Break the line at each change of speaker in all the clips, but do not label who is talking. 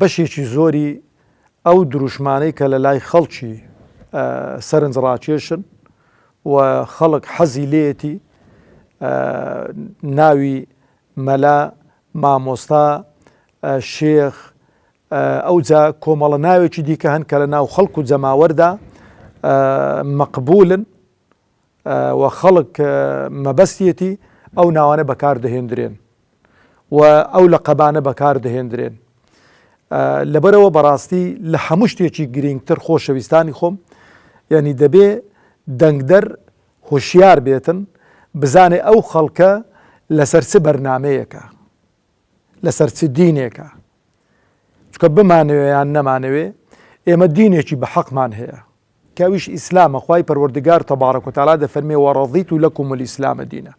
بەشێکی زۆری ئەو دروشمانەی کە لە لای خەڵکی سەرنجڕاکێشن و خەڵک حەزی لێیەتی ناوی مەلا، مامۆستا، شێخ، ئەوجا کۆمەڵە ناوێکی دیکە هەن کە لە ناو خەڵک و جەماوەردا مەقبوولن، و خەڵک مەبەستیەتی ئەو ناوانە بەکار دەهێندرێن و ئەو لە قەبانە بەکار دەهێندرێن لەبەرەوە بەڕاستی لە هەموو شتێکی گرنگتر خۆشەویستانی خۆم یعنی دەبێ دەنگدەر هۆشیار بێتن بزانێ ئەو خەڵکە لەسەر چ بەرنمەیەەکە لەسەر چ دینێکە چکە بمانەوێ یان نەمانەوێ ئێمە دینێکی بە حەقمان هەیە کەئەویش ئیسلامە، خوای پەروەردگار تبارک و تعالی دەفەرمێ، وەڕەضیت لەکم الاسلام دینا،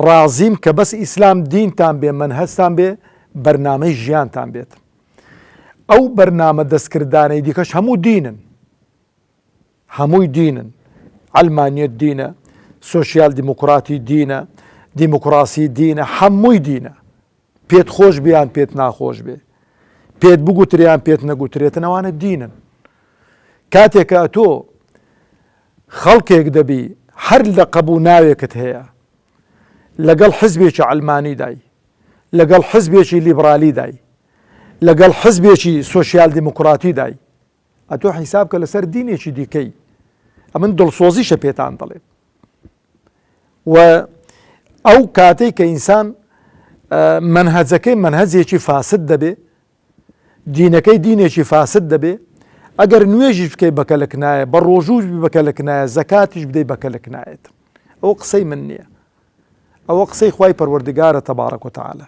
ڕازیم کە بەس ئیسلام دینتان بێ، مەنهەجتان بێ، بەرنامەی ژیانتان بێت، ئەو بەرنامە دەستکردانەی دیکەش هەموو دینن، هەمووی دینن، عەلمانیەت دینە، سۆسیال دیموکراتی دینە، دیموکراسی دینە، هەمووی دینە. پێت خۆش بێ یان پێت ناخۆش بێ، پێت بگوترێ یان پێت نەگوترێتن ئەوانە دینن. کاتێک کە ئەتۆ خەڵکێک دەبی هەر لەقەب و ناوێکت هەیە، لەگەڵ حزبێکی عەلمانیدای، لەگەڵ حزبێکی لیبرالیدای، لەگەڵ حزبێکی سۆسیال دیموکراتیدای، ئەتۆ حیساب کە لەسەر دینێکی دیکەی. ئەمن دڵسۆزیشە پێتان دەڵێم. و ئەو کاتەی کە ئینسان مەنهەجەکەی مەنهەجێکی فاسد دەبێ دینەکەی دینێکی فاسد دەبێ ئەگەر نوێژیش بکەی بەکەلک نایە بە ڕۆژووش بەکەلک نایە زەکاتیش بدەی بەکەلک نایەت ئەو قسەی من نییە ئەوە قسەی خی پەروەردگارە تەبارەکۆتەعاالە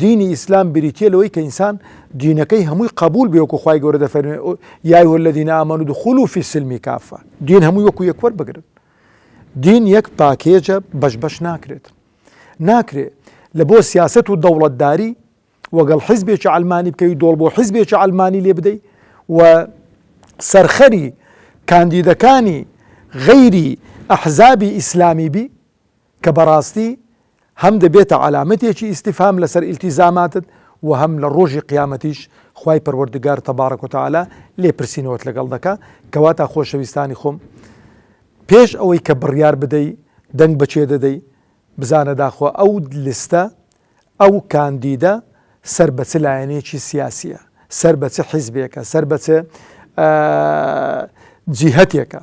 دینی ئیسلام بریتیە لەوەی کە ئینسان دینەکەی هەمووی قبول بێ وەکو خی گەورە دەفەرمێ یای وە لە دینە ئامانود و خول و فیسلمی کافە دین هەمووی وەکو یەکوەر بگرن دین یەک پاکێجە بەش بەش ناکرێت ناکرێت لە بۆ سیاست و دەوڵەتداری وەگەڵ حیزبێکی ئەلمانی بکەوی دۆڵ بۆ حیزبێکی ئەلمانی لێ بدەیت و سەرخەری کاندیدەکانی غەیری ئەحزابی ئیسلامی بی کە بەڕاستی هەم دەبێتە عەلامەتێکی ئیستیفهام لەسەر ئیلتیزاماتت و هەم لە ڕۆژی قیامەتیش خوای پەروەردگار تەبارەک و تەعالا لێپرسینەوەت لەگەڵ دەکا کەواتە خۆشەویستانی خۆم پێش ئەوەی کە بڕیار بدەی دەنگ بەچێ دەدەی بزانە داخۆ ئەو لستە ئەو کاندیدە سەر بە چ لایەنێکی سیاسیە سەر بە چ حیزبێکە سەر بە چ جیهتێکە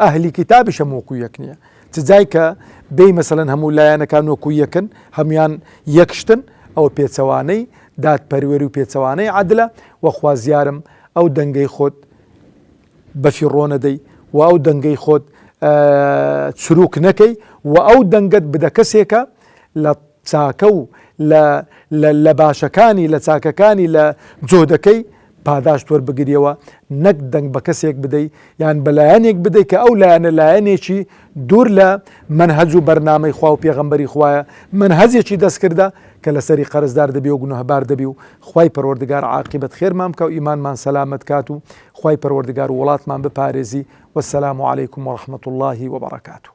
ئەهلی کیتابیش هەموو وەکو یەک نیە چ جای کە بێی مەسەلەن هەموو لایەنەکان وەکو یەکن هەموان یەک شتن ئەوە پێچەوانەی دادپەروەری و پێچەوانەی عەدلە وە خوازیارم ئەو دەنگەی خۆت بەفیڕۆ نەدەی و ئەو دەنگەی خۆت چرووک نەکەی و ئەو دەنگەت بدە کەسێکە لە چاکە و لە لە لە باشەکانی لە چاکەکانی لە جۆدەکەی پاداشت وەربگریەوە نەک دەنگ بە کەسێک بدەی یان بە لایەنێک بدەی کە ئەو لایەنە لایەنێکی دوور لە مەنهەج و بەرنامەی خوا و پێغەمبەری خوایە مەنهەجێکی دەستکردە کە لەسەری قەرزدار دەبی و گوناهبار دەبی و خوای پەروەردگار عاقیبەت خێرمان بکا و ئیمانمان سەلامەت کات و خوای پەروەردگار وڵاتمان بپارێزی وەسەلام علیکم وەڕەحمەتوڵڵاهی وەبەڕەکاتوو